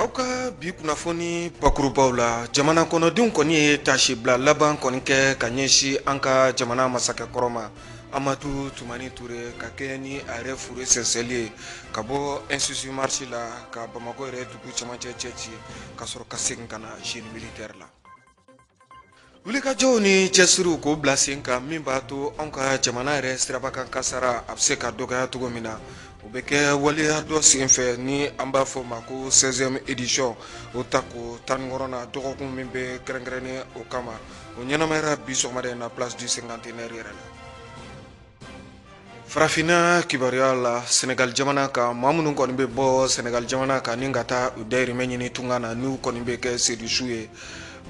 aw ka bi kunnafoni bakurubaw la jamana kɔnɔdenw kɔni ye tasibila laban kɔni kɛ ka ɲɛsin an ka jamana masakɛ kɔrɔ ma amadu tumani ture ka kɛ ni a yɛrɛ fure sɛnsɛnli ye ka bɔ institut marchoux la ka bamakɔ yɛrɛ dugu cɛmancɛ cɛci ka sɔrɔ ka segin ka na génie militaire la wulikajɔw ni cɛsiriw k'o bila sen kan min b'a to anw ka jamana yɛrɛ siraba kan kasara a bɛ se ka dɔgɔya cogo min na o bɛ kɛ waleya dɔ sen fɛ ni an b'a fɔ o ma ko seizième édition o tako tan ni wɔɔrɔnan dɔgɔkun min bɛ kɛrɛnkɛrɛnnen o kama o ɲɛnamayara bi sɔgɔmada in na place du cinquantenaire yɛrɛ la farafinna kibaruya la senegal jamana kan maa minnu kɔni bɛ bɔ senegal jamana kan ni ka taa u dayirimɛ ɲini tunga na n'u kɔni bɛ kɛ sedusu ye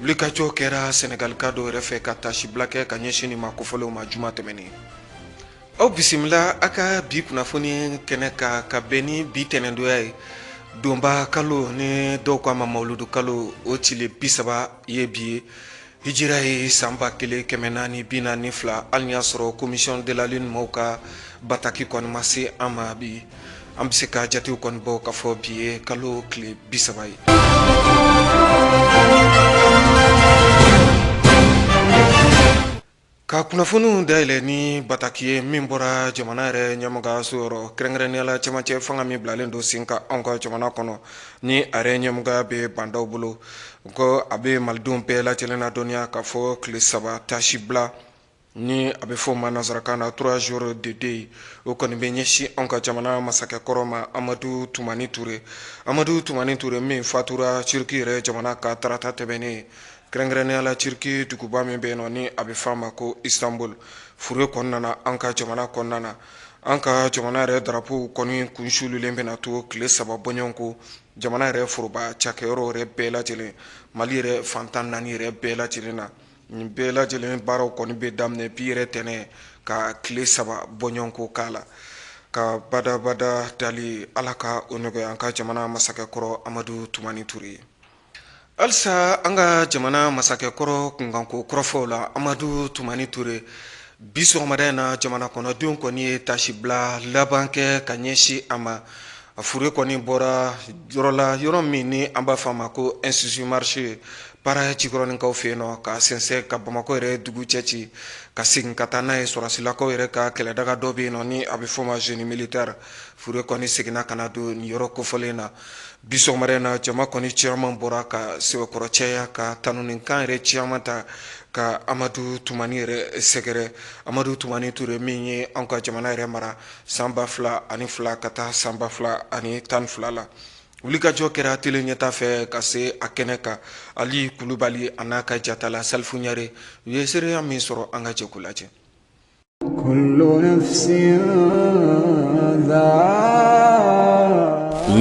wulikajɔ kɛra senegalka dɔw yɛrɛ fɛ ka tasibila kɛ ka ɲɛsin nin maa kofɔlenw ma juma tɛmɛnen aw bisimila a ka bi kunnafoni kɛnɛ kan ka bɛn ni bi tɛnɛndonya ye donba kalo ni dɔw k'a ma mawuludu kalo o tile bi saba ye bi ye Hijira ye san ba kelen kɛmɛ naani bi naani ni fila hali y'a sɔrɔ commission de la lune maaw ka bataki kɔni ma se an ma bi an bɛ se ka jatew kɔni bɔ ka fɔ bi ye kalo tile bi saba ye Ka kunnafoniw dayɛlɛ ni bataki ye min bɔra jamana yɛrɛ ɲɛmɔgɔso yɔrɔ kɛrɛnkɛrɛnnenya la cɛmancɛ fanga min bilalen don sen kan anw ka jamana kɔnɔ ni a yɛrɛ ɲɛmɔgɔya bɛ ba ndaw bolo ko a bɛ malidenw bɛɛ lajɛ lajɛlen ladɔnniya ka fɔ tile saba tasibila ni a bɛ fɔ ma nansarakan na trois jours de deuil ye o kɔni bɛ ɲɛsin anw ka jamana masakɛkɔrɔ ma amadu tumani ture amadu tumani ture min fatura turuki yɛrɛ jamana kan tarata tɛmɛnen ye Kɛrɛnkɛrɛnnenya la Turquie duguba min bɛ yen nɔ ni a bɛ fɔ a ma ko Istanbul fure kɔni nana an ka jamana kɔnɔna na, an ka jamana yɛrɛ drapeau kɔni kun suululen bɛna to tile saba bɔɲɔgɔn ko jamana yɛrɛ foroba cakɛyɔrɔ yɛrɛ bɛɛ lajɛlen, Mali yɛrɛ fan tan ni naani yɛrɛ bɛɛ lajɛlen na. Nin bɛɛ lajɛlen baaraw kɔni bɛ daminɛ bi yɛrɛ tɛnɛn ka tile saba bɔɲɔgɔn ko k'a la, ka badabada dali Ala ka o nɔgɔya an ka jamana masakɛ kɔrɔ Amadu Tumani Ture ye. halisa an ka jamana masakɛ kɔrɔ kunkanko kɔrɔfɔw la amadu tumani ture bi sɔgɔmada in na jamana kɔnɔdenw kɔni ye tasibila laban kɛ ka ɲɛsin a ma a fure kɔni bɔra yɔrɔ la yɔrɔ min ni an b'a fɔ a ma ko institut marchoux ye para jikɔrɔninkaw fɛ yen nɔ ka sɛnsɛn ka bamakɔ yɛrɛ dugu cɛci ka segin ka taa n'a ye sɔrɔsilakaw yɛrɛ ka kɛlɛdaga dɔ bɛ yen nɔ ni a bɛ fɔ ma génie militaire fure kɔni seginna ka na don nin yɔrɔ kofɔlen na Bi sɔgɔmada in na jama kɔni caman bɔra ka sɛbɛkɔrɔ caya ka tanunikan yɛrɛ caman ta ka Amadu Tumani yɛrɛ sɛgɛrɛ, Amadu Tumani Ture min ye anw ka jamana yɛrɛ mara san 2002 ka taa san 2012 la. Wulikajɔ kɛra tele Ɲɛta fɛ ka se a kɛnɛ kan, Ali Kulubali an'a ka jatala Salifu Ɲare, u ye seereya min sɔrɔ an ka jɛ k'o lajɛ.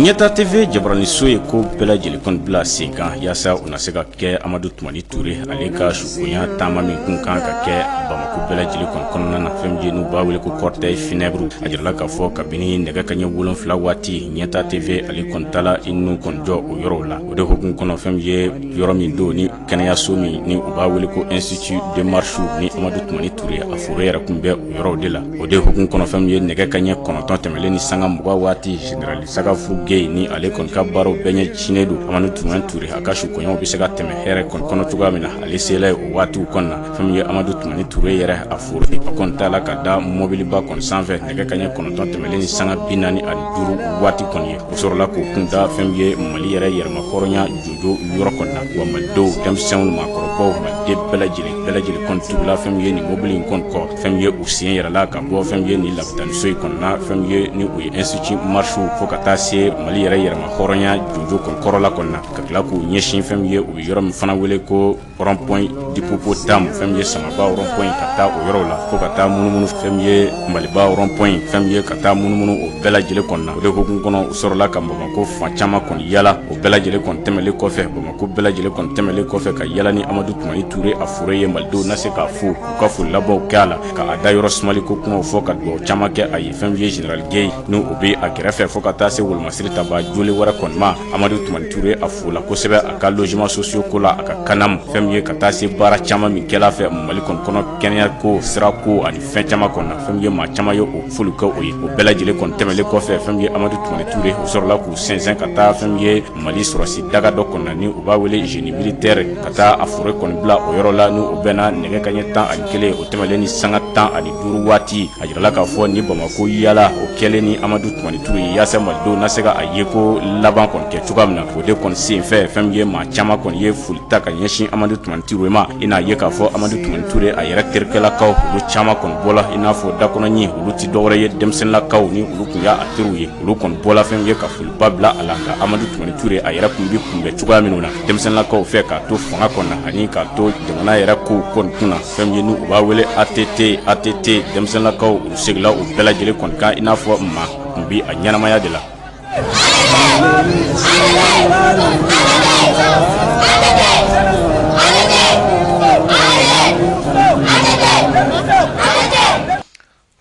ɲɛta TV jabaraniso ye ko bɛɛ lajɛlen kɔni bila sen kan yaasa u na se ka kɛ amadu tumani ture ale ka sukonya taama min kun kan ka kɛ bamako bɛɛ lajɛlen kɔni kɔnɔna na fɛn min ye n'u b'a wele ko cortège funèbre a jirala k'a fɔ kabini nɛgɛ ka ɲɛ wolonfila waati ɲɛta TV ale kɔni taala i nun kɔni jɔ o yɔrɔw la o de hukumu kɔnɔ fɛn min ye yɔrɔ min don ni kɛnɛyaso min ni u b'a wele ko institut de marchoux ni amadu tumani ture a fure yɛrɛ kun bɛ o yɔrɔw de la o de hukumu kɔnɔ fɛn min ye nɛgɛ ka ɲɛ kɔnɔntɔn tɛmɛlen ni sanga mugan waati generali sagafuru gey ni ale kɔni ka baaraw bɛɛ ɲɛsinnen don amadu tumani ture a ka sukonyaw bɛ se ka tɛmɛ hɛrɛ kɔni kɔnɔ cogoya min na ale sela ye o waatiw kɔnɔ na fɛn min ye amadu tumani ture yɛrɛ a fure a kɔni tala ka da mɔbiliba kɔni sanfɛ nɛgɛ ka ɲɛ kɔnɔntɔn tɛmɛlen ni sanga bi naani ani duuru waati kɔni ye o sɔrɔla k'o kun da fɛn min ye mali yɛrɛ yɛrɛmahɔrɔnya jɔn yɔrɔ kɔnɔna wa malidenw denmisɛnw maakɔrɔbaw maliden bɛɛ lajɛlen bɛɛ lajɛlen kɔni tugula fɛn min ye nin mobili in kɔni kɔ fɛn min ye u sen yɛrɛ la ka bɔ fɛn min ye nin lapitaniso in kɔnɔna fɛn min ye ni o ye institut marchoux fo ka taa se mali yɛrɛ yɛrɛmahɔrɔnya jɔnjɔn kɔni kɔrɔla kɔnɔna ka tila k'u ɲɛsin fɛn min ye u bɛ yɔrɔ min fana wele ko rond-point d'hippopotame fɛn min ye Samaba rond-point ka taa o yɔrɔw la fo ka taa munumunu fɛn min ye Maliba rond-point fɛn min ye ka taa munumunu o bɛɛ lajɛlen kɔni na o de hukumu kɔnɔ u sɔrɔla ka Bamakɔ fan caman kɔni yaala o bɛɛ lajɛlen kɔni tɛmɛlen kɔfɛ Bamakɔ bɛɛ lajɛlen kɔni tɛmɛlen kɔfɛ ka yaala ni Amadu Tumani Ture a fure ye Malidenw na se k'a fo u ka foli labanw kɛ a la ka a da yɔrɔ sumali ko kumaw fɔ ka dugawu caman kɛ a ye fɛn min ye General Gueye ni o bɛ a kɛrɛfɛ fo ka taa se Wolomasiri tabaa jolen wɛrɛ kɔni ma amadu tumani ture a fola kosɛbɛ a ka logement sociaux ko la a ka CANAM fɛn min ye ka taa se baara caman min kɛla a fɛ mali kɔni kɔnɔ kɛnɛya ko sira ko ani fɛn caman kɔni na fɛn min ye maa caman ye o foli kɛ o ye o bɛɛ lajɛlen kɔni tɛmɛlen kɔfɛ fɛn min ye amadu tumani ture o sɔrɔla k'u sɛnsɛn ka taa fɛn min ye mali sɔrɔsi daga dɔ kɔnɔ na ni u b'a wele génie militaire ka taa a fure kɔni bila o yɔrɔ la ni o bɛnna nɛgɛ kaɲɛ tan ani kelen o tɛmɛlen ni sanga tan ani duuru waati jirala k'a fɔ ni bamakɔ yaala o kɛlen ni amadu tumani ture ye yaasa malidenw na se ka a ye ko laban kɔni kɛ cogoya min na o de kɔni sen fɛ fɛn min ye maa caman kɔni ye foli ta ka ɲɛsin amadu tumani ture ma i n'a ye k'a fɔ amadu tumani ture a yɛrɛ terikɛlakaw olu caman kɔni bɔla i n'a fɔ da kɔnɔ ɲin olu tɛ dɔwɛrɛ ye denmisɛnninlakaw ni olu kun y'a teriw ye olu kɔni bɔla fɛn min ye ka foliba bila a la nka amadu tumani ture a yɛrɛ kun bɛ kunbɛn cogoya minnu na denmisɛnninlakaw fɛ k'a to fanga kɔnɔ ani k'a to jamana yɛrɛ kow kɔni kun na fɛn ye ni u b'a wele ATT ATT denmisɛnninlakaw u segila o bɛɛ lajɛlen kɔni kan i n'a fɔ maa tun bi a ɲɛnamaya de la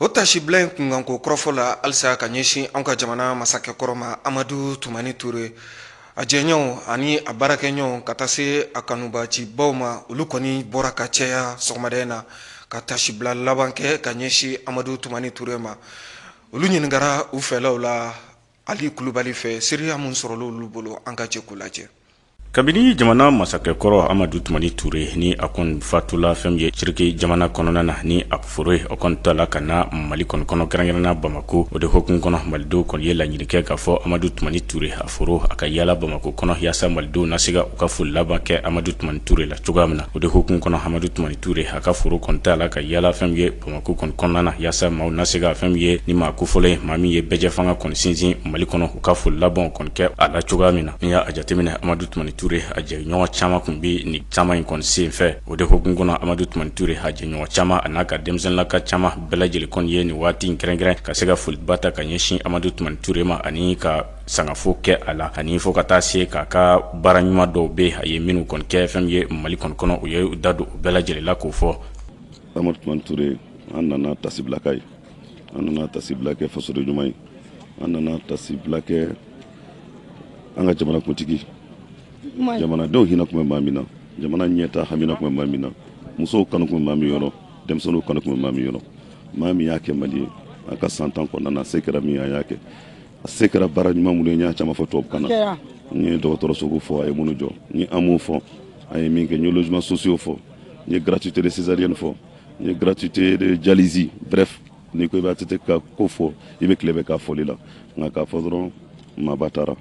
O tasibila in kunkanko kɔrɔfɔ la halisa ka ɲɛsin an ka jamana masakɛ kɔrɔ ma amadu Tumani Ture a jɛɲɔɔnw ani a baarakɛɲɔɔnw ka taa se a kanubaacibaw ma olu kɔni bɔra ka caya sɔgɔmada in na ka tasibila laban kɛ ka ɲɛsin amadu Tumani Ture ma olu ɲininkara u fɛlaw la ali kulubali fɛ seereya min sɔrɔla olu bolo an ka jɛ k'o lajɛ kabini jamana masakɛ kɔrɔ amadu tumani ture ni a kɔni fatula fɛn ye ciriki jamana kɔnɔna na ni a fure o kɔni tala ka na mali kɔni kɔnɔ kɛrɛnkɛrɛnna bamako o de hokumu kɔnɔ malidenw kɔni ye laɲini kɛ k'a fɔ amadu tumani ture a fure a ka yaala bamako kɔnɔ yaasa malidenw na se ka u ka foli laban kɛ amadu tumani ture la cogoya min na o de hokumu kɔnɔ amadu tumani ture a ka fure kɔni tala ka yaala fɛn ye Bamako kɔni kɔnɔna na yaasa maaw na se ka fɛn min ye ni maa kofɔlen ye maa min ye bɛɛjɛ fanga kɔni sinsin Mali kɔnɔ u ka foli labanw kɔni kɛ a la cogoya min na n'i y'a jateminɛ Amadu Tumani Ture a jɛɲɔgɔn caman tun bɛ nin taama in kɔni senfɛ o de hokumu kɔnɔ Amadu Tumani Ture a jɛɲɔgɔn caman a n'a ka denmisɛnninlaka caman bɛɛ lajɛlen kɔni ye nin waati in kɛrɛnkɛrɛn ka se ka foliba ta ka ɲɛsin Amadu Tumani Ture ma ani ka sangafo kɛ a la ani fo ka taa se k'a ka baara ɲuman dɔw bɛ a ye minnu kɔni kɛ fɛn min ye Mali kɔni kɔnɔ u ye u da don u bɛɛ lajɛlen la k'o fɔ amadu tumani ture an nana tasibila k'a ye an nana tasibila kɛ fasoden ɲuman ye an nana tasibila kɛ an ka jamana kuntigi jamanadenw hinɛ tun bɛ maa min na jamana ɲɛtaa hamina tun bɛ maa min na musow kanu tun bɛ maa min yɔrɔ denmisɛnninw kanu tun bɛ maa min yɔrɔ maa min y'a kɛ mali ye a ka san tan kɔnɔna na a se kɛra min a y'a kɛ a se kɛra baara ɲuman minnu ye n y'a caman fɔ tubabukan na n ye dɔgɔtɔrɔsow fɔ a ye minnu jɔ n ye AMO fɔ a ye min kɛ n ye logements sociaux fɔ n ye gratuité de césarienne fɔ n ye gratuité de dialyse bref n'i ko i bɛ ATT ka ko fɔ i bɛ tile bɛɛ k'a fɔli la nka k'a fɔ dɔrɔn maaba taara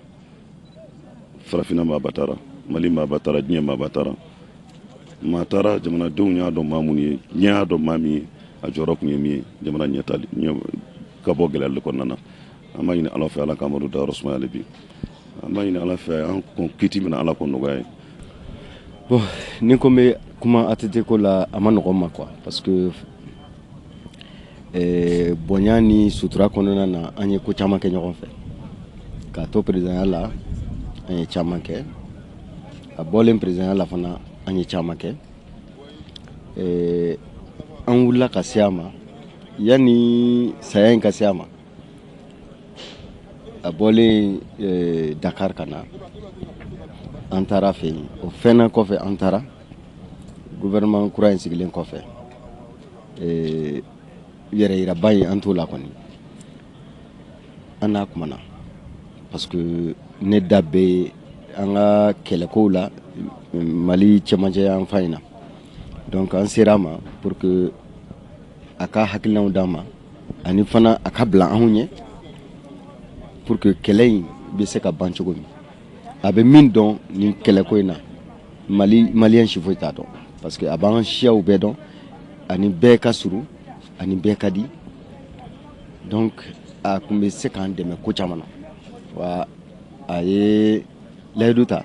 farafinna maaba taara mali maaba taara diɲɛ maaba taara maa taara jamanadenw y'a dɔn maa minnu ye diɲɛ y'a dɔn maa min ye a jɔyɔrɔ tun ye min ye jamana ɲɛtaali ka bɔ gɛlɛyali kɔnɔna na an b'a ɲini ala fɛ ala ka amadu dayɔrɔ sumaya hali bi an b'a ɲini ala fɛ an kɔn kiti min na ala k'o nɔgɔya a ye bon ni ko n bɛ kuma ATT ko la a man nɔgɔn n ma quoi parce que eh, bonya ni sutura kɔnɔna na an ye ko caman kɛ ɲɔgɔn fɛ k'a to peresidanya la an ye caman kɛ a bɔlen peresidanya la fana an ye caman kɛ eh, an wulila ka se a ma yanni saya in ka se a ma a bɔlen eh, dakar ka na an taara a fɛ yen o fɛnna kɔfɛ an taara gouvernement kura in sigilen kɔfɛ eh, yɛrɛ yiraba in an t'o la kɔni an n'a kumana parce que ne da bɛ an ka kɛlɛkow la mali cɛmancɛ yan fan in na donc an sera a ma pour que a ka hakilinaw d'an ma ani fana a ka bila anw ɲɛ pour que kɛlɛ in bɛ se ka ban cogo min a bɛ min dɔn nin kɛlɛko in na maliyɛn si foyi t'a dɔn parce que a b'an siyaw bɛɛ dɔn a ni bɛɛ ka surun a ni bɛɛ ka di donc a tun bɛ se k'an dɛmɛ ko caman na wa a ye layidu ta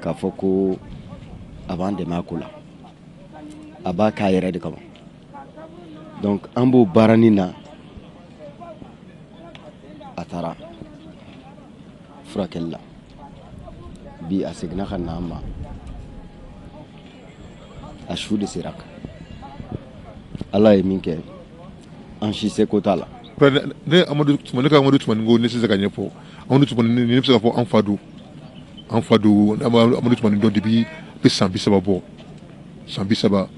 k'a fɔ ko a b'an dɛmɛ a ko la a b'a k'a yɛrɛ de kama donc an b'o baara nin na a taara furakɛli la bi a seginna ka na an ma a su de sera kan ala ye min kɛ an si seko t'a la ne amadu tumani ne ka amadu tumani ko ne tɛ se k'a ɲɛfɔ amadu tumani ne bɛ se k'a fɔ an fa don an fa don amadu tumani dɔn depuis bɛ san bi saba bɔ san bi saba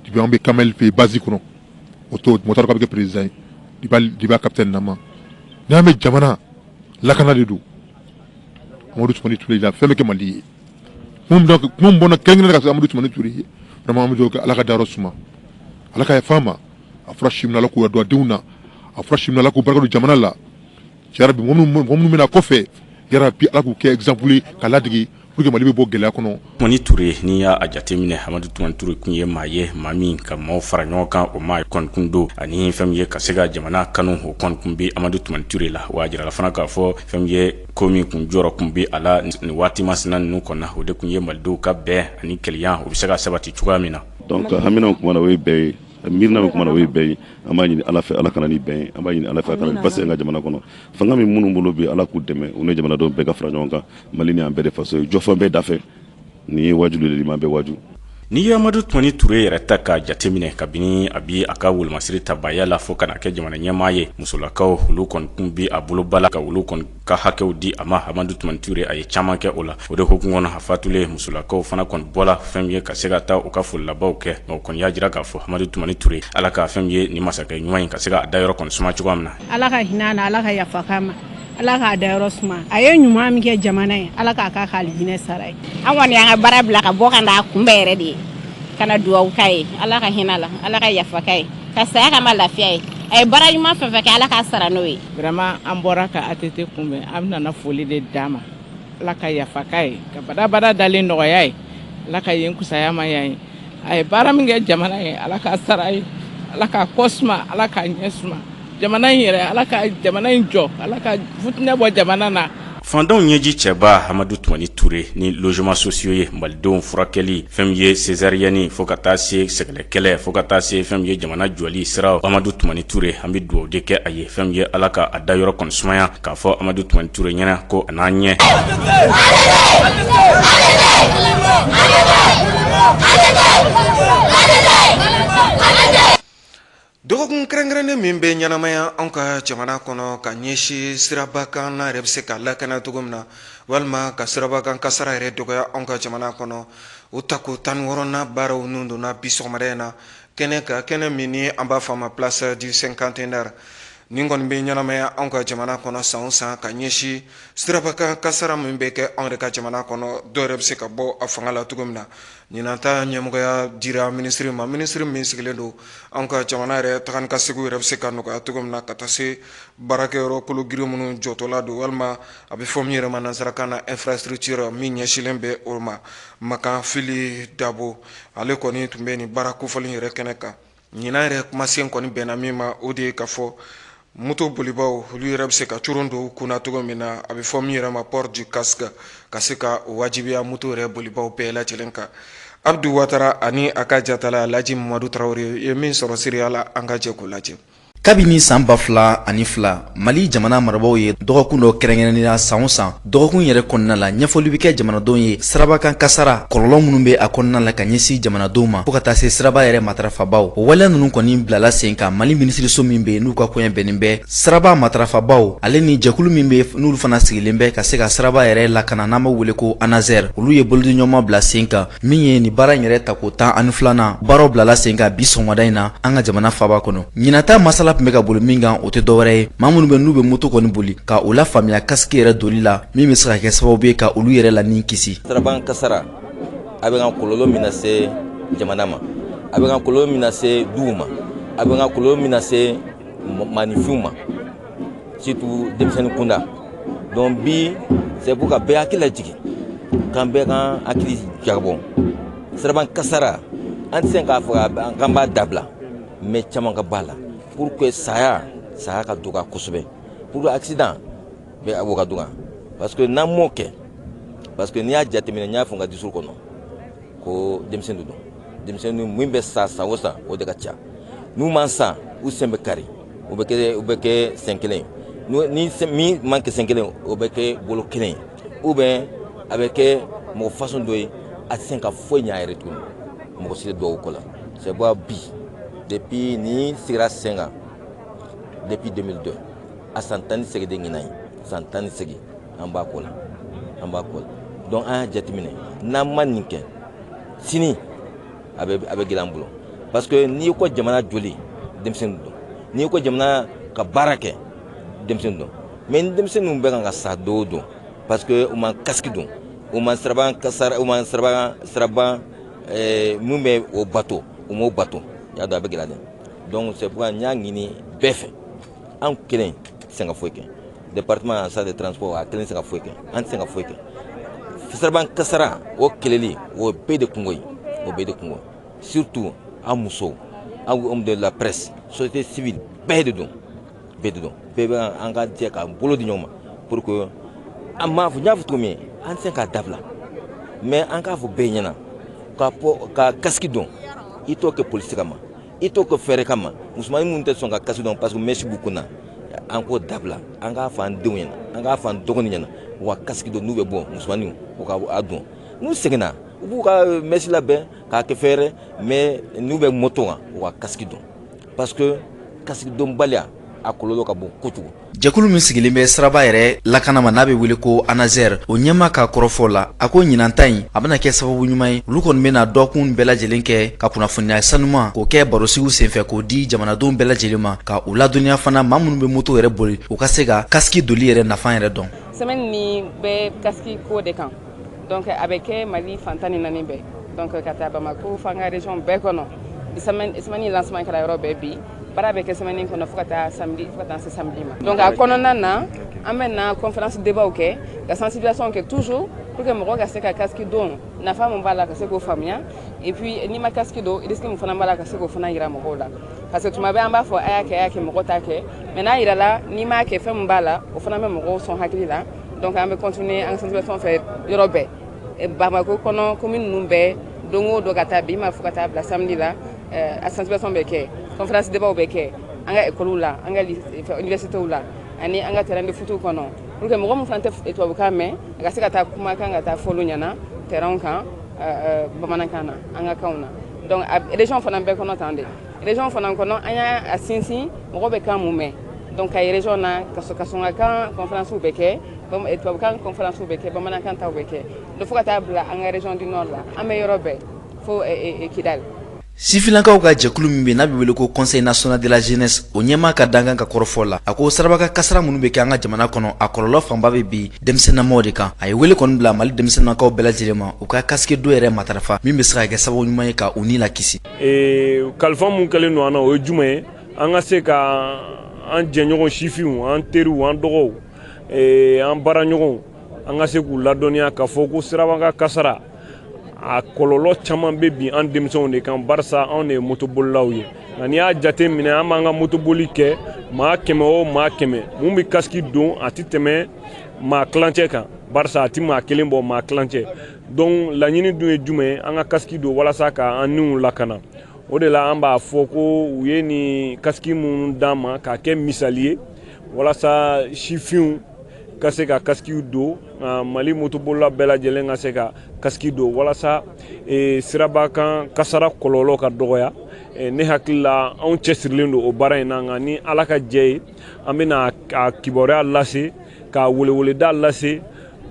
Depuis an bɛ Kamel fɛ yen base kɔnɔ, o tuma mɔgɔ t'a dɔn k'a bɛ kɛ président ye depuis a capitaine nama, n'i y'a mɛn jamana lakana de don, Amadu Tumani Ture la fɛn bɛɛ kɛ Mali ye, kuma min bɛ bɔ ne da kɛrɛnkɛrɛnnenya la ka sin Amadu Tumani Ture ye vraiment an bɛ dugawu kɛ Ala k'a dayɔrɔ suma, Ala ka yafa a ma, a fɔra si min na Ala k'o don a denw na, a fɔra si min na Ala k'o barika don jamana la. minnu bɛ na kɔfɛ yarabi ala k'u kɛ exemple ye ka ladege pour que mali bɛ bɔ gɛlɛya kɔnɔ tumani ture n'i y'a jateminɛ amadu tumani ture tun ye maa ye maa min ka maaw fara ɲɔgɔn kan o maa kɔni tun don ani fɛn min ye ka se ka jamana kanu o kɔni tun bɛ amadu tumani ture la wa a jirala fana k'a fɔ fɛn min ye ko min tun jɔrɔ tun bɛ a la nin waati masina ninnu kɔnɔ o de tun ye malidenw ka bɛn ani kelenya u bɛ se ka sabati cogoya min na donc hamina o ye bɛn ye miirina bɛ kuma na o ye bɛn ye an b'a ɲini ala fɛ ala ka na ni bɛn ye an b'a ɲini ala fɛ a ka na ni basigi an ka jamana kɔnɔ fanga min minnu bolo bi ala k'u dɛmɛ u ni jamanadenw bɛɛ ka fara ɲɔgɔn kan mali nin an bɛɛ de faso ye jɔfɛn bɛɛ dafɛ nin ye waju de liman bɛɛ waju n'i ye amadu tumani ture yɛrɛ ta k'a jateminɛ kabini a bi a ka wolomasiri tabaya la fo ka na kɛ jamana ɲɛmaa ye musolakaw olu kɔni tun bi a bolo ba la ka olu kɔni ka hakɛw di a ma amadu tumani ture a ye caman kɛ o la o de hukumu kɔnɔ a fatulen musolakaw fana kɔni bɔra fɛn min ye ka se ka taa u ka foli labanw kɛ o kɔni y'a jira k'a fɔ amadu tumani ture ala ka fɛn min ye ni masakɛ ɲuman in ka se k'a dayɔrɔ kɔni suma cogoya min na ala ka hinɛ na ala ka yafa ma ala k'a dayɔrɔ suma a ye ɲuman min kɛ jamana ye ala k'a ka k'ale hinɛ sara ye an kɔni y'an ka baara bila ka bɔ ka n'a kunbɛn yɛrɛ de ye ka na dugawu k'a ye ala ka hinɛ la ala ka yafa k'a ye ka saya k'a ma lafiya ye a ye baara ɲuman fɛn fɛn kɛ ala k'a sara n'o ye Vraiment an bɔra ka ATT kunbɛn an nana foli de d'a ma Ala ka yafa k'a ye ka badabada dalen nɔgɔya ye Ala ka yen fisaya ma yan ye a ye baara min kɛ jamana ye Ala k'a sara a ye Ala k'a kɔ suma Ala k'a ɲɛ suma jamana in yɛrɛ Ala ka jamana in jɔ Ala ka futinɛ bɔ jamana na Faantanw ɲɛji cɛbaa amadu tumani ture ni logements sociaux ye malidenw furakɛli fɛn min ye césarienne fo ka taa se sɛgɛlɛn kɛlɛ fo ka taa se fɛn min ye jamana jɔli sira amadu tumani ture an bɛ dugawu de kɛ a ye fɛn min ye ala ka a dayɔrɔ kɔni sumaya k'a fɔ amadu tumani ture ɲɛna ko a n'a ɲɛ Dɔgɔkun kɛrɛnkɛrɛnnen min bɛ ɲɛnamaya anw ka jamana kɔnɔ ka ɲɛsin siraba kan yɛrɛ bɛ se ka lakana cogo min na walima ka siraba kan kasara yɛrɛ dɔgɔya anw ka jamana kɔnɔ o tako tan ni wɔɔrɔnan baaraw ninnu donna bi sɔgɔmada in na kɛnɛ kan kɛnɛ min ni an b'a fɔ a ma place du cinquantenaire nin kɔni bɛ ɲɛnamaya anw ka jamana kɔnɔ san o san ka ɲɛsin siraba kan kasara min bɛ kɛ anw yɛrɛ ka jamana kɔnɔ dɔw yɛrɛ bɛ se ka bɔ a fanga la cogo min na Ɲinan ta ɲɛmɔgɔya dira minisiri ma minisiri min sigilen don an ka jamana yɛrɛ taga ni ka segin yɛrɛ bɛ se ka nɔgɔya cogo min na ka taa se baarakɛyɔrɔ kologirin minnu jɔtɔla don walima a bɛ fɔ min yɛrɛ ma nansarakan na infrastructure min ɲɛsinlen bɛ o ma makan fili dabo ale kɔni tun bɛ nin baara kofɔlen yɛrɛ kɛnɛ kan ɲinan yɛrɛ kumasen kɔni bɛnna min ma o de ye k'a fɔ moto bolibaw olu yɛrɛ bɛ se ka coron don kunna cogo min na a bɛ fɔ min yɛrɛ ma port du casque ka se ka o wajibiya moto yɛrɛ bolibaw bɛɛ lajɛlen kan abdu watara ani a ka jatala laji mamadu tarawele ye min sɔrɔ seereya la an ka jɛ k'o lajɛ kabini san ba fila ani fila mali jamana marabaaw ye dɔgɔkun dɔ kɛrɛnkɛrɛnnenya san o san dɔgɔkun yɛrɛ kɔnɔna la ɲɛfɔli bɛ kɛ jamanadenw ye siraba kan kasara kɔlɔlɔ minnu bɛ a kɔnɔna la ka ɲɛsin jamanadenw ma fo ka taa se siraba yɛrɛ matarafabaw o waleya ninnu kɔni bilala sen kan mali minisiriso min bɛ n'u ka koɲɛ bɛnnen bɛ siraba matarafabaw ale ni jɛkulu min bɛ n'olu fana sigilen bɛ ka se ka siraba yɛrɛ lakana n'an b'a wele ko ANASER olu ye bolodiɲɔgɔnma bila sen kan min ye nin baara in yɛrɛ tako tan ani filanan baaraw bilala sen kan bi sɔgɔmada in na an ka jamana faaba kɔnɔ ɲinan ta masala tun bɛ ka boli min kan o tɛ dɔwɛrɛ ye maa minnu bɛ n'u bɛ moto kɔni boli ka u lafaamuya kasiki yɛrɛ doli la min bɛ se ka kɛ sababu ye ka olu yɛrɛ la ni kisi siraba kan kasara a bɛ ka kɔlɔlɔ min lase jamana ma a bɛ ka kɔlɔlɔ min lase duw ma a bɛ ka kɔlɔlɔ min lase maanifinw ma surtout denmisɛnnin kunda donc bi c'est pour ka bɛɛ hakili lajigin k'an bɛɛ k'an hakili jagabɔ siraban kasara an tɛ se k'a fɔ k'an b'a dabila mais caman ka b'a la pour que saya saya ka dɔgɔya kosɛbɛ pour que accident bɛ o ka dɔgɔya parce que n'an m'o kɛ parce que n'i y'a jateminɛ n y'a fɔ n ka discours kɔnɔ ko denmisɛnnin don denmisɛnnin min bɛ sa san o san o de ka ca n'u ma sa u sen bɛ kari o bɛ kɛ o bɛ kɛ sen kelen ni min ma kɛ sen kelen o bɛ kɛ bolo kelen ou bien a bɛ kɛ mɔgɔ façon dɔ ye a tɛ se ka foyi ɲɛ a yɛrɛ tuguni mɔgɔ si tɛ dɔw ko la c'est pourquoi bi depuis nin sigira sen kan depuis 2002 a san tan ni segin de ɲinan ye san tan ni segin an b'a ko la an b'a ko la donc an y'a jateminɛ n'an ma nin kɛ sini a bɛ a bɛ gɛlɛya an bolo parce que n'i ko jamana jɔli denmisɛnnin don n'i ko jamana ka baara kɛ denmisɛnnin don mais ni denmisɛnninw bɛ kan ka sa don o don parce que u ma kasiki don u ma siraban u ma siraban siraban eh, min bɛ o bato u m'o bato y'a dɔn a bɛ gɛlɛya dɛ donc c'est pourquoi n y'a ɲini bɛɛ fɛ an kelen tɛ se ka foyi kɛ département en charge de transport a kelen tɛ se ka foyi kɛ an tɛ se ka foyi kɛ fo siraban kasara o kɛlɛli o bɛɛ de kunko ye o bɛɛ de kunko surtout an musow an homme de la presse société civile bɛɛ de don bɛɛ de don bɛɛ bɛ an ka jɛ k'an bolo di ɲɔgɔn ma pour que an m'a fɔ n y'a fɔ cogo min an tɛ se k'a dabila mais an k'a fɔ bɛɛ ɲɛna ka kasiki don i t'o kɛ polisi kama i t'o kɛ fɛɛrɛ kama musomannin minnu tɛ sɔn ka kasiki don parce que mɛsi b'u kunna an k'o dabila an k'a fɔ an denw ɲɛna an k'a fɔ an dɔgɔni ɲɛna u ka kasiki don n'u bɛ bɔ musomanninw u ka a don n'u seginna u b'u ka mɛsi labɛn k'a kɛ fɛɛrɛ mais n'u bɛ moto kan u ka kasiki don parce que kasiki donbaliya a kɔlɔlɔ ka bon kojugu jɛkulu min sigilen bɛ siraba yɛrɛ lakana ma n'a bɛ wele ko anaser o ɲɛmaa ka kɔrɔfɔ la a ko ɲinan ta in a bɛna kɛ sababu ɲuman ye olu kɔni bɛna dɔɔkun bɛɛ lajɛlen kɛ ka kunnafoniya sanuman k'o kɛ barosigiw senfɛ k'o di jamanadenw bɛɛ lajɛlen ma ka u ladɔnniya fana maa minnu bɛ moto yɛrɛ boli u ka se ka kasiki doli yɛrɛ nafa yɛrɛ dɔn semaine nin bɛ kasiki ko de kan donc a bɛ kɛ mali fan tan ni naani bɛɛ donc ka taa bamako fo an ka région bɛɛ kɔnɔ semaine lancement kɛra yɔrɔ bɛɛ bi baara bɛ kɛ semaine kɔnɔ fo ka taa samedi fo ka taa se samedi ma donc a kɔnɔna na an bɛ na conférence débat kɛ ka sensibilisation kɛ toujours pour que mɔgɔ ka se ka casque don nafa mun b'a la ka se k'o faamuya et puis n'i ma casque don risque mun fana b'a la ka se k'o fana yira mɔgɔw la parce que tuma bɛɛ an b'a fɔ a y'a kɛ a y'a kɛ mɔgɔ t'a kɛ mais n'a yirala n'i m'a kɛ fɛn mun b'a la o fana bɛ mɔgɔw sɔn hakili la donc an bɛ continuer an ka sensibilisation fɛ yɔrɔ bɛɛ bamako kɔnɔ commune ninnu bɛɛ don o don ka taa bi ma fo ka taa bila samedi la eh, a sensibilisation bɛ kɛ conférence débatw bɛ kɛ an ka ekɔliw la an ka universitew la ani an ka terrain de footw kɔnɔ pour que mɔgɔ min fana tɛ tubabukan mɛn a ka se ka taa kumakan ka taa fɔ olu ɲɛ na terrainw kan eh, eh, bamanankan na an ka kanw na donc a région fana bɛɛ kɔnɔ tan de région fana kɔnɔ an y'a sinsin mɔgɔ bɛ kan mun mɛn donc kayi région na kasɔnkakan conférence bɛ kɛ tubabukan conférence bɛ kɛ bamanankan taw bɛ kɛ donc fo ka taa bila an ka région du nord la an bɛ yɔrɔ bɛɛ Sifinlakaw ka jɛkulu min bɛ n'a bɛ wele ko Conseil national de la jeunesse o ɲɛmaa ka dankan ka kɔrɔfɔ la a ko sirabakan kasara minnu bɛ kɛ an ka jamana kɔnɔ a kɔlɔlɔ fanba bɛ bin denmisɛnnamaw de kan a ye wele kɔni bila mali denmisɛnnakaw bɛɛ lajɛlen ma u ka kasiki don yɛrɛ matarafa min bɛ se ka kɛ sababu ɲuman ye ka u ni lakisi ee kalifa min kɛlen don an na o ye jumɛn ye an ka se ka an jɛɲɔgɔn sifinw an teriw an dɔgɔw an baaraɲɔgɔn an ka se k'u ladɔnniya k'a fɔ ko sirabakan kasara a kɔlɔlɔ caman bɛ bin an denmisɛnw de kan barisa anw de ye motobolilaw ye nka n'i y'a jate minɛ an b'an ka motoboli kɛ maa kɛmɛ o maa kɛmɛ mun bɛ kasiki don a tɛ tɛmɛ maa tilancɛ kan barisa a tɛ maa kelen bɔ maa tilancɛ donc laɲini dun ye jumɛn ye an ka kasiki don walasa ka an niw lakana o de la an b'a fɔ ko u ye nin kasiki minnu d'an ma k'a kɛ misali ye walasa sifinw ka se ka kasiki don mali motobolila bɛɛ lajɛlen ka se ka kasiki don walasa e, sirabakan kasara kɔlɔlɔ ka dɔgɔya e, ne hakili la anw cɛsirilen don o baara in na nka ni ala ka jɛ ye an bɛna a kibaruya lase ka weleweleda lase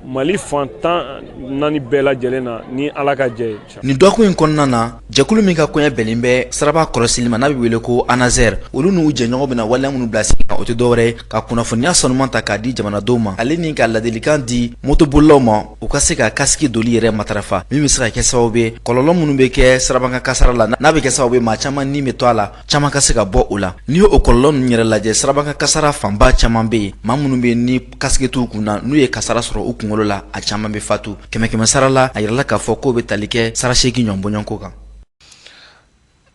mali fan tan naani bɛɛ lajɛlen na ni ala ka jɛ ye nin dɔgɔkun in kɔnɔna na jɛkulu min ka koɲɛ bɛnnen bɛ siraba kɔlɔsili ma n'a bɛ wele ko ANASER olu n'u jɛɲɔgɔnw bɛna waleya minnu bila sigi kan o tɛ dɔwɛrɛ ye ka kunnafoniya sanuman ta k'a di jamanadenw ma ale ni ka ladilikan di motobolilaw ma u ka se ka kasiki doli yɛrɛ matarafa min bɛ se ka kɛ sababu ye kɔlɔlɔ minnu bɛ kɛ sirabakan kasara la n'a bɛ kɛ sababu ye maa caman ni bɛ to a la caman ka se ka bɔ o la n'i ye o kɔlɔlɔ ninnu yɛrɛ lajɛ sirabakan kasara fanba caman bɛ yen maa minnu bɛ ni kasiki t'u kun na n'u ye kasara sɔrɔ u kungolo la a caman bɛ fatu kɛmɛ kɛmɛ sara la a yirala k'a fɔ k'o bɛ tali kɛ sara seegin ɲɔgɔn bɔɲɔgɔnko kan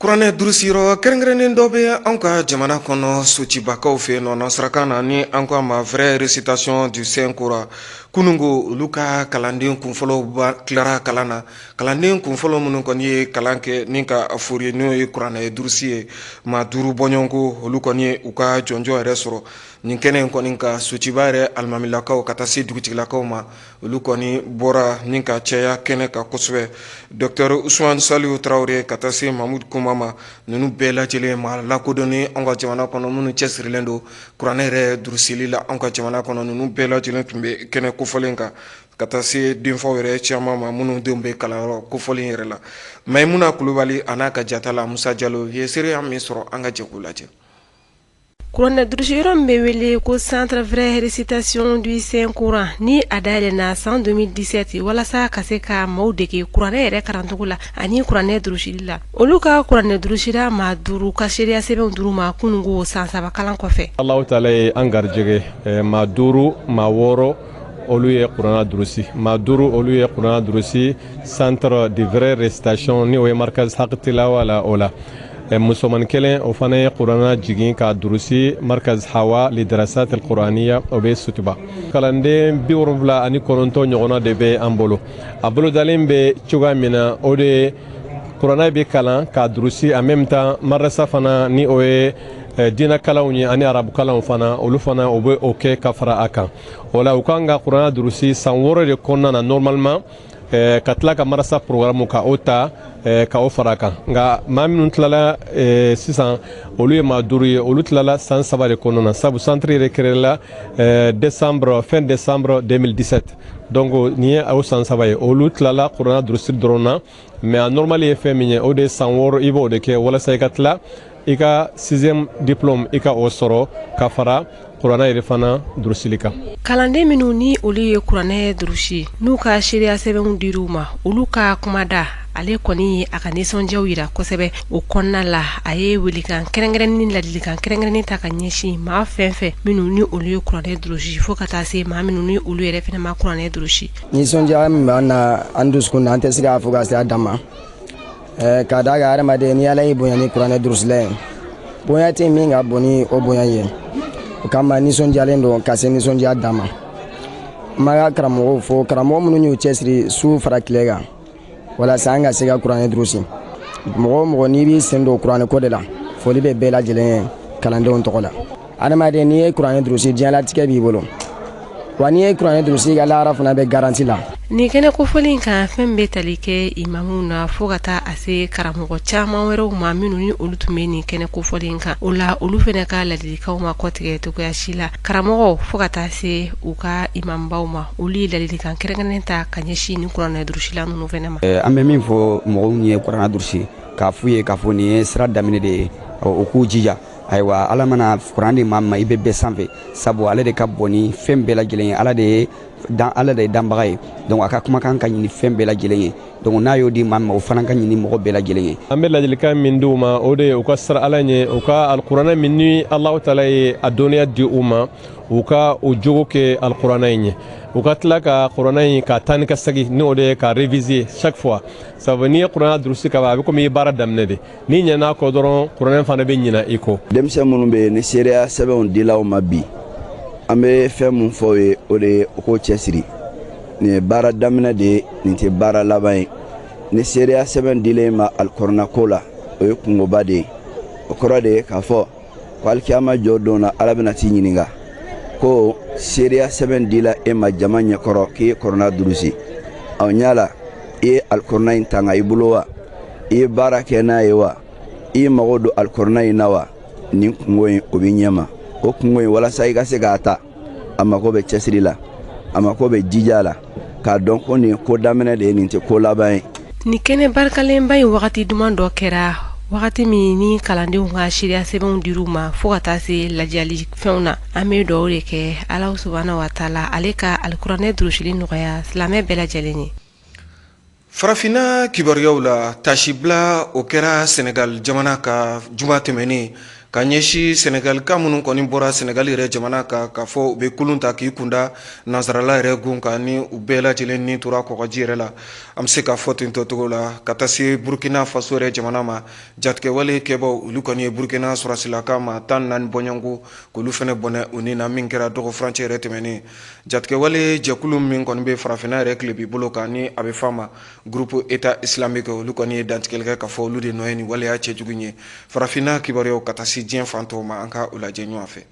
kuranɛ durusiyɔrɔ kɛrɛnkɛrɛnnen dɔ bɛ anw ka jamana kɔnɔ socibakaw fɛ nɔ nasarakan na ni an ko a ma vrai récitation du saint coran kununko olu ka kalanden kunfɔlɔw tilara kalan na kalanden kunfɔlɔ minnu kɔni ye kalan kɛ ni ka a fori n'o ye kuranɛ durusi ye maa duuru bɔɲɔgɔnko olu kɔni ye u ka jɔnjɔn yɛrɛ sɔrɔ nin kɛnɛ in kɔni kan sutuba yɛrɛ alimamilakaw ka taa se dugutigilakaw ma olu kɔni bɔra ni ka caya kɛnɛ kan kosɛbɛ dɔkɔtɔrɔ usuman saliw tarawele ka taa se mamudu kuma ma ninnu bɛɛ lajɛ lajɛlen maa lakodɔnnen an ka jamana kɔnɔ minnu cɛsirilen don kuranɛ yɛrɛ durusili la an ka jamana kɔnɔ ninnu bɛɛ lajɛ lajɛlen tun bɛ kɛnɛ kofɔlen kan ka taa se denfaw yɛrɛ caman ma minnu denw bɛ kalanyɔrɔ kofɔlen yɛrɛ la mayimuna kulubali a n'a ka jatala musa jalo ye seereya min sɔrɔ an ka jɛ k'o lajɛ Kuranɛ durusi yɔrɔ min bɛ wele ko centre vraie récitation du saint coran ni a dayɛlɛnna san 2017 walasa ka se ka maaw dege kuranɛ yɛrɛ karancogo la ani kuranɛ durusili la olu ka kuranɛ durusira maa duuru ka seereya sɛbɛnw dir'u ma kunun ko san saba kalan kɔfɛ allahu taala ye an garijɛgɛ maa duuru maa wɔɔrɔ olu ye kuranɛ durusi maa duuru olu ye kuranɛ durusi centre de vraie récitation ni o ye markaz haqi tilawa la o la musoman kelen o fana ye kurana jigin k'a durusi markaz hawa lidarasat alquraniya o bɛ sutuba kalanden bi wolonwula ani kɔnɔntɔn ɲɔgɔnna de bɛ an bolo a bolodalen bɛ cogoya min na o de ye kurana bɛ kalan k'a durusi en même temps madrasa fana ni o ye diinɛkalanw ye ani arabukalanw fana olu fana o bɛ o kɛ ka fara a kan o la u kan ka kurana durusi san wɔɔrɔ de kɔnɔna na normalement eh, ka tila ka marasa programme ka o ta eh, ka o fara kan nka maa minnu tilala eh, sisan olu ye maa duuru ye olu tilala san saba de kɔnɔna na sabu centre yɛrɛ créela décembre fin décembre 2017 donc nin ye o san saba ye olu tilala kurana durusiri dɔrɔn na mais a normal ye fɛn min ye o de ye san wɔɔrɔ i b'o de kɛ walasa i ka tila i ka sixième diplôme i ka o sɔrɔ ka fara kuranɛ yɛrɛ fana durusili kan kalanden minnu ni olu ye kuranɛ durusi n'u ka seereya sɛbɛnw dir'u ma olu ka kumada ale kɔni ye a ka nisɔndiyaw yira kosɛbɛ o kɔnɔna la a ye welekan kɛrɛnkɛrɛnnen ni ladilikan kɛrɛnkɛrɛnnen ta ka ɲɛsin maa fɛn fɛn minnu ni olu ye kuranɛ durusi fo ka taa se maa minnu ni olu yɛrɛ fana ma kuranɛ durusi nisɔndiya min b'an na an dusukun na an tɛ se k'a fɔ ka se a dan ma k'a da a kan hadamaden ni ala y'i bonya ni kuranɛ durusili ye bonya tɛ min ka bon ni o bonya ye o kama nisɔndiyalen don ka se nisɔndiya dan ma n b'an ka karamɔgɔw fo karamɔgɔ minnu y'u cɛsiri su fara tile kan walasa an ka se ka kuranɛ durusi mɔgɔ o mɔgɔ n'i b'i sen don kuranɛ ko de la foli bɛ bɛɛ lajɛlen ye kalandenw tɔgɔ la adamaden n'i ye kuranɛ durusi diɲɛlatigɛ b'i bolo wa n'i ye kuranɛ durusi i ka lahara fana bɛ garanti la nin kɛnɛ kofɔlen in kan fɛn bɛ tali kɛ imamuw na fo ka taa a se karamɔgɔ caman wɛrɛw ma minnu ni olu tun bɛ nin kɛnɛ kofɔlen kan o la olu fana ka ladilikanw ma kɔtigɛ cogoya si la karamɔgɔw fo ka taa se u ka imamubaw ma olu ye ladilikan kɛrɛnkɛrɛnnen ta ka ɲɛsin nin kuranɛ durusila ninnu fana ma an bɛ min fɔ mɔgɔw ye kuranɛ durusi k'a f'u ye k'a fɔ nin ye sira daminɛ de ye u k'u jija ayiwa ala mana kuranɛ di maa ma i bɛ bɛɛ sanfɛ sabu ale de ka bon ni fɛn bɛɛ lajɛlen ye ala de ye danbaga ye donc a ka kumakan ka ɲi ni fɛn bɛɛ lajɛlen ye donc n'a y'o di maa ma o fana ka ɲi ni mɔgɔ bɛɛ lajɛlen ye an bɛ ladilikan min di u ma o de ye u ka siran ala ɲɛ u ka alikuranɛ min ni alahu taala ye a dɔnniya di u ma u ka o jogo kɛ alikuranɛ in ye u ka tila ka kuranɛ in ka taa ni ka segin ni o de ye ka réviser chaque fois sabu n'i ye kuranɛ durusi ka ban a bɛ komi i ye baara daminɛ de N'i ɲinan'a kɔ dɔrɔn kuranɛ fana bɛ ɲina i kɔ. Denmisɛn minnu bɛ yen ni seereya sɛbɛnw dila u ma bi, an bɛ fɛn min fɔ u ye o de ye u k'u cɛsiri. Nin ye baara daminɛ de ye, nin tɛ baara laban ye. Ni seereya sɛbɛn dila e ma alikuranɛ ko la, o ye kunkoba de ye. O kɔrɔ de ye k'a fɔ ko alikiyama jɔ don na Ala bɛna t'i ɲininka ko seereya sɛbɛn dila e ma jama ɲɛkɔrɔ k'i ye kuranɛ durusi. Yala i ye alikuranɛ in tanga i bolo wa? i ye baara kɛ n'a ye wa i y'i mago don alikuranɛ in na wa nin kunko in o b'i ɲɛma o kunko in walasa i ka se k'a ta a mako bɛ cɛsiri la a mako bɛ jija la k'a dɔn ko nin ko daminɛ de ye nin tɛ ko laban ye nin kɛnɛ barikalenba in wagati duman dɔ kɛra wagati min ni kalandenw ka seereya sɛbɛnw dir'u ma fo ka taa se ladiyali fɛnw na an bɛ dugawu de kɛ alahu subahana wa taala ale ka alikuranɛ durusili nɔgɔya silamɛ bɛɛ lajɛlen ye Farafinna kibaruyaw la tasibila o kɛra sɛnɛgali jamana kan juma tɛmɛnen ka ɲɛsin sɛnɛgalika minnu kɔni bɔra sɛnɛgali yɛrɛ jamana kan k'a fɔ u bɛ kulun ta k'u kunda nansarala yɛrɛ gun kan ni u bɛɛ lajɛ lajɛlen ni tora kɔgɔji yɛrɛ la an bɛ se k'a fɔ tentɔcogo la ka taa se burukina faso yɛrɛ jamana ma jatigɛwale kɛbaw olu kɔni ye burukina sɔrɔsilaka maa tan ni naani bɔɲɔgɔnko k'olu fɛnɛ bɔnɛ u ni na min kɛra dɔgɔ furancɛ yɛrɛ tɛmɛnen Jatigɛwale jɛkulu min kɔni bɛ farafinna yɛrɛ tilebi bolo kan ni a bɛ f'a ma groupe état islamique olu kɔni ye dantigɛli kɛ k'a fɔ olu de nɔ ye nin waleya cɛjugu ye farafinna kibaruyaw ka taa se diɲɛ fan tɔw ma an ka o lajɛ ɲɔgɔn fɛ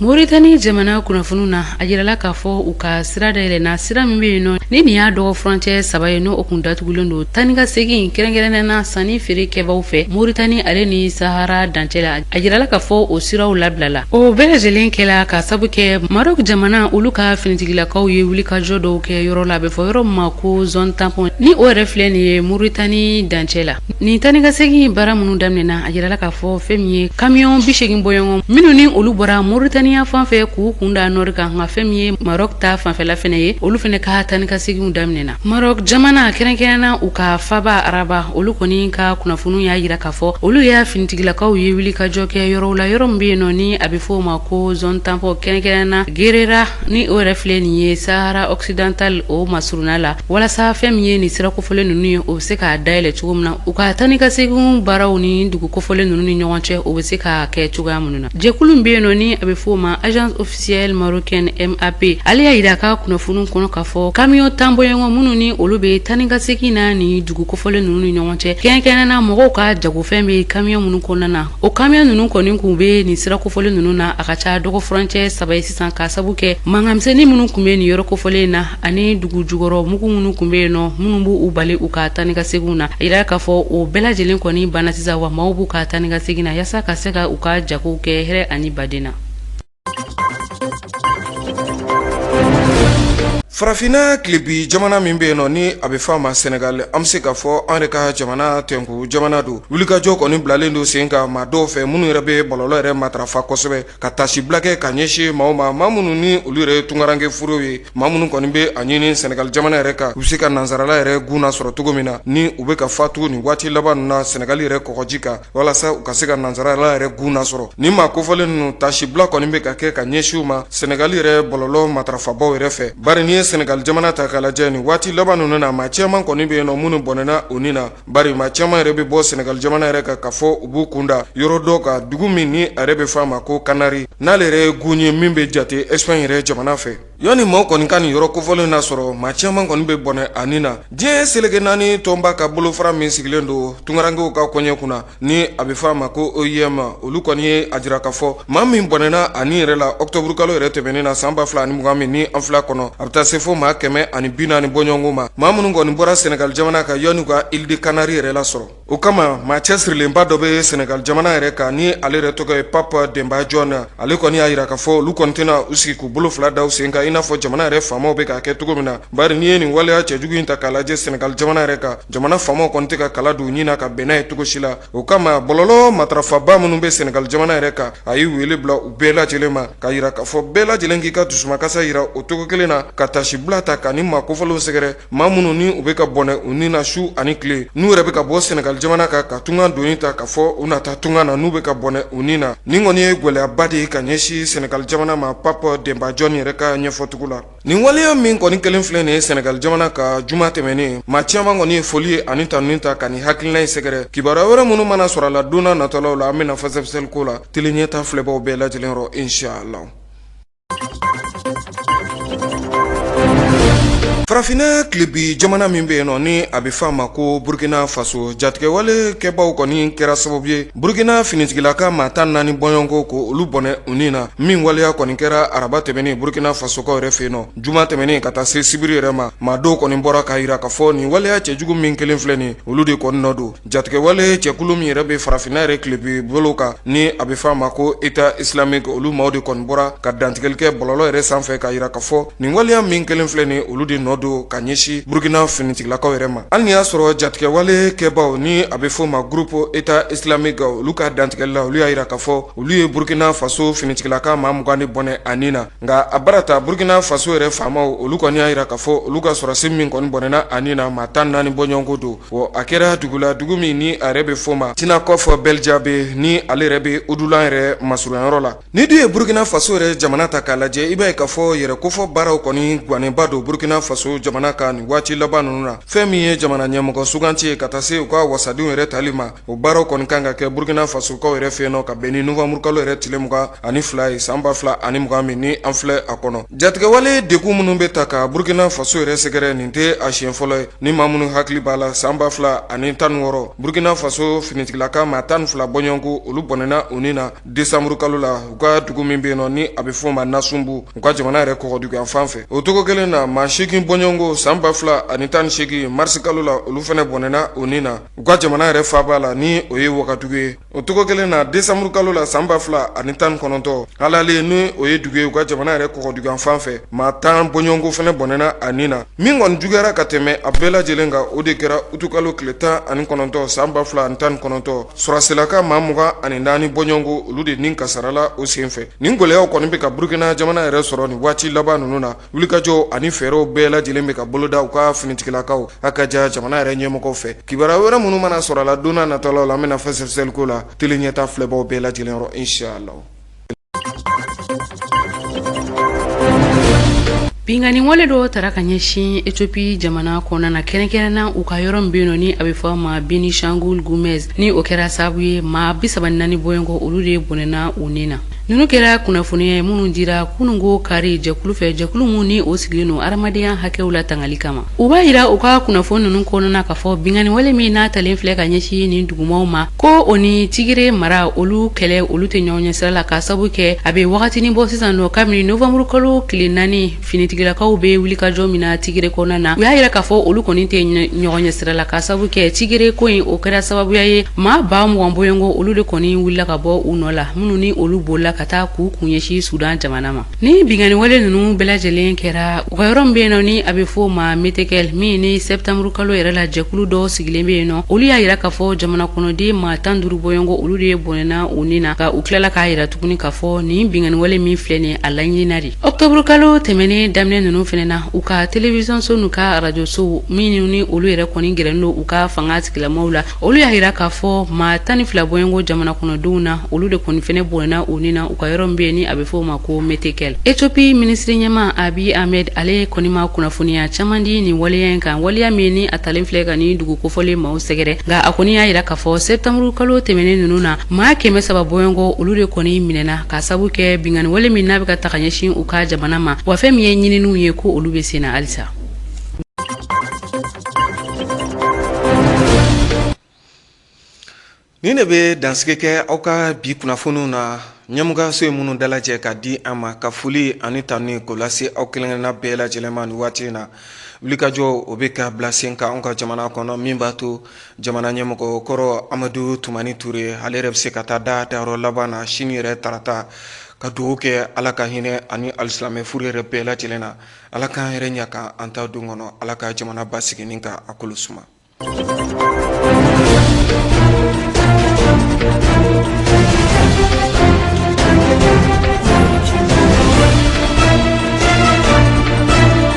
moritani jamana kunnafoni na a jirala k'a fɔ u ka sira dayɛlɛna sira min bɛ yen nɔ ni nin y'a dɔgɔ furancɛ saba ye n'o kun datugulen don tani ka segin kɛrɛnkɛrɛnnɛna sanni feere kɛbaw fɛ moritani ale ni sahara dancɛ la a jirala k'a fɔ o siraw labilala o bɛɛ lajɛlen kɛla k'a sabu kɛ marok jamana olu ka finitigilakaw ye wulikajɔ dɔw kɛ yɔrɔ la a bɛ fɔ yɔrɔ ma ko zone tampon ni o yɛrɛ filɛ nin ye moritani dancɛ la nin tani ka segin baara minnu daminɛna a jirala k'a fɔ fɛn min ye kamiyɔn bi seegin bɔɲɔgɔn minnu ni olu bɔra moritaniya fan fɛ k'u kun da nɔri kan nka fɛn min ye marok ta fanfɛla fɛnɛ ye olu fɛnɛ ka tani ka seginw daminɛna Maroc jamana kɛrɛnkɛrɛnna u ka faaba araba olu kɔni ka kunnafoniw y'a jira k'a fɔ olu y'a finitigilakaw ye wulikajɔ kɛ yɔrɔw la yɔrɔ min bɛ yen nɔ ni a bɛ fɔ o ma ko zone tampon kɛrɛnkɛrɛnna gerera ni o yɛrɛ filɛ nin ye sahara occidental o masurunna la walasa fɛn min ye nin sira kofɔlen ninnu ye o bɛ se k'a dayɛlɛ cogo min na u ka taa ni ka seginw baaraw ni dugu kofɔlen ninnu ni ɲɔgɔn cɛ o bɛ se ka kɛ cogoya minnu na jɛkulu min bɛ yen nɔ ni a bɛ fɔ o ma agence officielle marocaine MAP ale y'a yira ka kunnafoniw kɔnɔ k'a fɔ kamiyɔn tan bɔɲɔgɔn minnu ni olu bɛ taa ni ka segin na ni dugu kofɔlen ninnu ni ɲɔgɔn cɛ kɛrɛnkɛrɛnnen na mɔgɔw ka jagofɛn bɛ kamiyɔn minnu kɔnɔna na o kamiyɔn ninnu kɔni kun bɛ nin sira kofɔlen ninnu na a ka ca dɔgɔ furancɛ saba ye sisan k'a sabu kɛ mankan misɛnnin minnu kun bɛ nin yɔrɔ kofɔlen na ani dugu jukɔrɔ mugu minnu kun bɛ yen nɔ minnu b'u bali u ka taa ni ka seginw na a yira k'a fɔ o bɛɛ lajɛlen kɔni banna sisan wa maaw b'u ka taa ni ka segin na yaasa ka se ka u ka jagow kɛ hɛrɛ ani baden na farafinna tilebin jamana min bɛ yen nɔ ni a bɛ fɔ a ma sɛnɛgali an bɛ se k'a fɔ an yɛrɛ ka jamana tɛnku jamana don wulikajɔ kɔni bilalen don sen kan maa dɔw fɛ minnu yɛrɛ bɛ bɔlɔlɔ yɛrɛ matarafa kosɛbɛ ka taasibila kɛ ka ɲɛsin maaw ma maa minnu ni olu yɛrɛ ye tunkaranke furew ye maa minnu kɔni bɛ a ɲini sɛnɛgali jamana yɛrɛ kan u bɛ se ka nansarala yɛrɛ gun nasɔrɔ cogo min na ni u bɛ ka fatu nin waati laban ninnu na sɛnɛgali yɛrɛ kɔgɔji kan walasa u ka se ka nansarala yɛrɛ gun nasɔrɔ nin maa kofɔlen ninnu taasibila kɔni bɛ ka kɛ ka ɲɛsin u ma sɛnɛgali yɛrɛ bɔlɔlɔ matarafabaw yɛrɛ fɛ bari n'i ye sɛnɛgali jamana ta k'a lajɛ nin waati laban ninnu na maa caman kɔni bɛ yen nɔ minnu bɔnɛna u ni na bari maa caman yɛrɛ bɛ bɔ sɛnɛgali jamana yɛrɛ kan k'a fɔ u b'u kun da yɔrɔ dɔ kan dugu min ni a yɛrɛ bɛ fɔ a ma ko kanari n'ale yɛrɛ ye gun ye min bɛ jate esipaɲi yɛrɛ jamana fɛ yanni maaw kɔni ka nin yɔrɔ kofɔlen nasɔrɔ maa caman kɔni bɛ bɔnɛ a ni na diɲɛ seleke naani tɔnba ka bolofara min sigilen don tunkarankew ka koɲɛ kunna ni a bɛ fɔ a ma ko OIM olu kɔni ye a jira k'a fɔ maa min bɔnɛna a ni yɛrɛ la ɔkutɔburukalo yɛrɛ tɛmɛnen na san ba fila ani mugan min ni an filɛ kɔnɔ a bɛ taa se fo maa kɛmɛ ani bi naani bɔɲɔgɔnko ma maa minnu kɔni bɔra sɛnɛgali jamana kan yanni u ka île de kanari yɛrɛ lasɔrɔ O kama maa cɛsirilenba dɔ bɛ sɛnɛgali jamana yɛrɛ kan ni ale yɛrɛ tɔgɔ ye pap denba jɔn na ale kɔni y'a jira k'a fɔ olu kɔni tɛna u sigi k'u bolo fila da u sen kan i n'a fɔ jamana yɛrɛ faamaw bɛ k'a kɛ cogo min na bari n'i ye nin waleya cɛjugu in ta k'a lajɛ sɛnɛgali jamana yɛrɛ kan jamana faamaw kɔni tɛ ka kala don u ɲin na ka bɛn n'a ye cogo si la o kama bɔlɔlɔ matarafaba minnu bɛ sɛnɛgali jamana yɛrɛ kan a ye wele bila u bɛɛ lajɛlen ma k'a jira k'a fɔ bɛɛ lajɛlen k'i ka dusumakasa jira o cogo kelen na ka taasibila ta ka nin maa kofɔlenw sɛgɛrɛ maa minnu ni u bɛ ka bɔnɛ u ni na su ani tile n'u yɛrɛ bɛ ka bɔ sɛnɛgali jamana kan ka tunga doni ta k'a fɔ u na taa tunga na n'u bɛ ka bɔnɛ u ni na nin kɔni ye gɛlɛyaba de ye ka ɲɛsin sɛnɛgali jamana ma pap denba jɔn yɛrɛ ka ɲɛfɔcogo la nin waleya min kɔni kɛlen filɛ nin ye sɛnɛgali jamana kan juma tɛmɛnen maa caman kɔni ye foli ye ani tanuni ta ka nin hakilina in sɛgɛrɛ kibaruya wɛrɛ minnu mana sɔrɔ a la don nataw la an bɛna fɛsɛfɛsɛli k'o la tele ɲɛta filɛbaw bɛɛ lajɛlen yɔrɔ inshallah farafinna tilebin jamana min bɛ yen nɔ ni a bɛ fɔ a ma ko burkina faso jatigɛwale kɛbaaw kɔni kɛra sababu ye burkina finitigilaka maa tan naani bɔɲɔgɔnko ko olu bɔnɛ u ni na min waleya kɔni kɛra araba tɛmɛnen burkina fasokaw yɛrɛ fɛ yen nɔ juma tɛmɛnen ka taa se sibiri yɛrɛ ma maa dɔw kɔni bɔra k'a jira k'a fɔ nin waleya cɛjugu min kelen filɛ nin ye olu de kɔni nɔ don Jatigɛwale jɛkulu min yɛrɛ bɛ farafinna yɛrɛ tilebin bolo kan ni a bɛ f'a ma ko État islamique olu maaw de kɔni bɔra ka dantigɛli kɛ bɔlɔlɔ yɛrɛ sanfɛ k'a jira k'a fɔ nin waleya min kelen filɛ nin olu de nɔ don ka ɲɛsin burukina finitigilakaw yɛrɛ ma hali ni y'a sɔrɔ jatigɛwale kɛbaw ni a bɛ f'o ma groupe État islamique olu ka dantigɛli la olu y'a jira ka fɔ olu ye burukina faso finitigilaka maa mugan ni bɔnɛ a ni na nka a bara ta burukina faso yɛrɛ faamaw olu kɔni y'a jira ka fɔ olu ka sɔrɔsi min kɔni bɔnɛna a ni na maa tan naani bɔɲɔgɔnko don Bon a kɛra dugu la dugu min ni a yɛrɛ bɛ fɔ ma Tinakɔf Bɛljabe ni ale yɛrɛ bɛ udulan yɛrɛ masurunyayɔrɔ la ni dun ye burukina faso yɛrɛ jamana ta k'a lajɛ i b'a ye ka fɔ yɛrɛkofɔ baaraw kɔni gannenba don burukina faso jamana kan nin waati laban ninnu na fɛn min ye jamana ɲɛmɔgɔ suganti ye ka taa se u ka wasadenw yɛrɛ tali ma O baaraw kɔni kan ka kɛ burukina fasokaw yɛrɛ fɛ yen nɔ ka bɛn ni novanburukalo yɛrɛ tile mugan ani fila ye san ba fila ani mugan min ni an filɛ a kɔnɔ jatigɛwale degun minnu bɛ ta ka burukina faso yɛrɛ sɛgɛrɛ nin tɛ a siɲɛ fɔlɔ ye ni maa minnu hakili b'a la san ba fila ani tan wɔɔrɔ burukina faso finitigilaka maa tan ni fila bɔɲɔgɔnko olu bɔnɛna u ni na desanburukalo la u ka dugu min bɛ yen nɔ ni a bɛ fɔ ma nasunbu u ka jamana yɛrɛ kɔgɔduguyan fan fɛ o cogo kelen na maa segin bɔɲɔgɔnko san ba fila ani tan ni segin marisi kalo la olu fɛnɛ bɔnɛna u ni na u ka jamana yɛrɛ faba la ni o ye wagadugu ye o cogo kelen na desanburukalo la san ba fila ani tan ni kɔnɔntɔn Halale ni o ye dugu ye u ka jamana yɛrɛ kɔgɔduguyan fan fɛ maa tan bɔɲɔgɔnko fɛnɛ bɔnɛna a ni na min kɔni juguyara ka tɛmɛ a bɛɛ lajɛlen kan o de kɛra utukalo tile tan ani kɔnɔntɔn san ba fila ani tan ni kɔnɔntɔn sɔrɔsilaka maa mugan ani naani bɔɲɔgɔnko olu de nin kasarala o senfɛ nin gɛlɛyaw kɔni bɛ ka burukina jamana yɛrɛ sɔrɔ nin waati laban ninnu na wulikajɔ ani fɛɛrɛw bɛɛ lajɛlen bɛ ka boloda u ka finitigilakaw a ka ja jamana yɛrɛ ɲɛmɔgɔ fɛ kibaruya wɛrɛ minnu mana sɔrɔ a la don n'a nataw la an bɛna fɛsɛfɛsɛliko latelen ɲɛtaa filɛbaaw bɛɛ lajɛlen yɔrɔ inshallah Binkanniwale dɔ tara ka ɲɛsin Ethiopie jamana kɔnɔna na kɛrɛnkɛrɛnna u ka yɔrɔ min bɛ yen nɔ ni a bɛ fɔ a ma Benishangul Gumuz ni o kɛra sababu ye maa bi saba ni naani bɔɲɔgɔnko olu de bɔnɛna u ni na ninnu kɛra kunnafoniya ye minnu dira kununko kari jɛkulu fɛ jɛkulu min ni o sigilen don adamadenya hakɛw latangali kama u b'a yira u ka kunnafoni ninnu kɔnɔna ka fɔ binkanniwale min n'a talen filɛ ka ɲɛsin nin dugumaw ma ko o ni tigire mara olu kɛlɛ olu tɛ ɲɔgɔn ɲɛsira la ka sabu kɛ a bɛ wagatinin bɔ sisan nɔ kabini novanburukalo tile naani finitigilakaw bɛ wulikajɔ min na tigre kɔnɔna na u y'a jira k'a fɔ olu kɔni tɛ ɲɔgɔn ɲɛ sira la ka sababu kɛ tigre ko in o kɛra sababuya ye maa ba mugan bɔɲɔgɔnko olu de kɔni wulila ka bɔ u nɔ la minnu ni olu bolila ka taa k'u kun ɲɛsin sudan jamana ma ni binkanniwale ninnu bɛɛ lajɛlen kɛra u ka yɔrɔ min bɛ yen nɔ ni a bɛ fɔ o ma metekɛl min ni sɛtanburu kalo yɛrɛ la jɛkulu dɔw sigilen bɛ yen nɔ olu y'a jira k'a fɔ jamana kɔnɔden maa tan duuru bɔɲɔgɔnko olu de ye bɔnɛna u ni na ka u tilala k'a jira tuguni k'a fɔ nin binkanniwale min filɛ nin a laɲinina de ɔkutɔburukalo tɛmɛnen daminɛ ninnu fana na u ka telewisɔnso n'u ka arajosow minnu ni olu yɛrɛ kɔni gɛrɛnen don u ka fanga sigilamaw la olu y'a jira k'a fɔ maa tan ni fila bɔɲɔgɔnko jamana kɔnɔdenw na olu de kɔni fana bɔnɛna u ni na u ka yɔrɔ min bɛ yen ni a bɛ fɔ o ma ko metekɛl etiyopi minisiri ɲɛmaa abi ahmed ale kɔni ma kunnafoniya caman di nin waleya in kan waleya min ni a talen filɛ ka nin dugu kofɔlen maaw sɛgɛrɛ nka a kɔni y'a jira k'a fɔ sɛtanburukalo tɛmɛnen ninnu na maa kɛmɛ saba bɔɲɔgɔnko olu de kɔni minɛna ka sabu kɛ binkanniwale min n'a bɛ ka ta ka ɲɛsin u ka jamana ma wa fɛn min ye ɲininiw ye ko olu bɛ sen na halisa nin de bɛ dansigi kɛ aw ka bi kunnafoniw na ɲɛmɔgɔso ye minnu dalajɛ ka di an ma ka foli ani tanuni k'o lase aw kelenkelenna bɛɛ lajɛlen ma nin waati in na wulikajɔ o bɛ ka bila sen kan anw ka jamana kɔnɔ min b'a to jamana ɲɛmɔgɔ kɔrɔ amadu tumani ture ale yɛrɛ bɛ se ka taa da dayɔrɔ laban na sini yɛrɛ tarata ka dugawu kɛ ala ka hinɛ a ni alisilamɛ fure yɛrɛ bɛɛ lajɛlen na ala k'an yɛrɛ ɲa ka an ta don kɔnɔ ala ka jamana basigi ni ka a kolo suma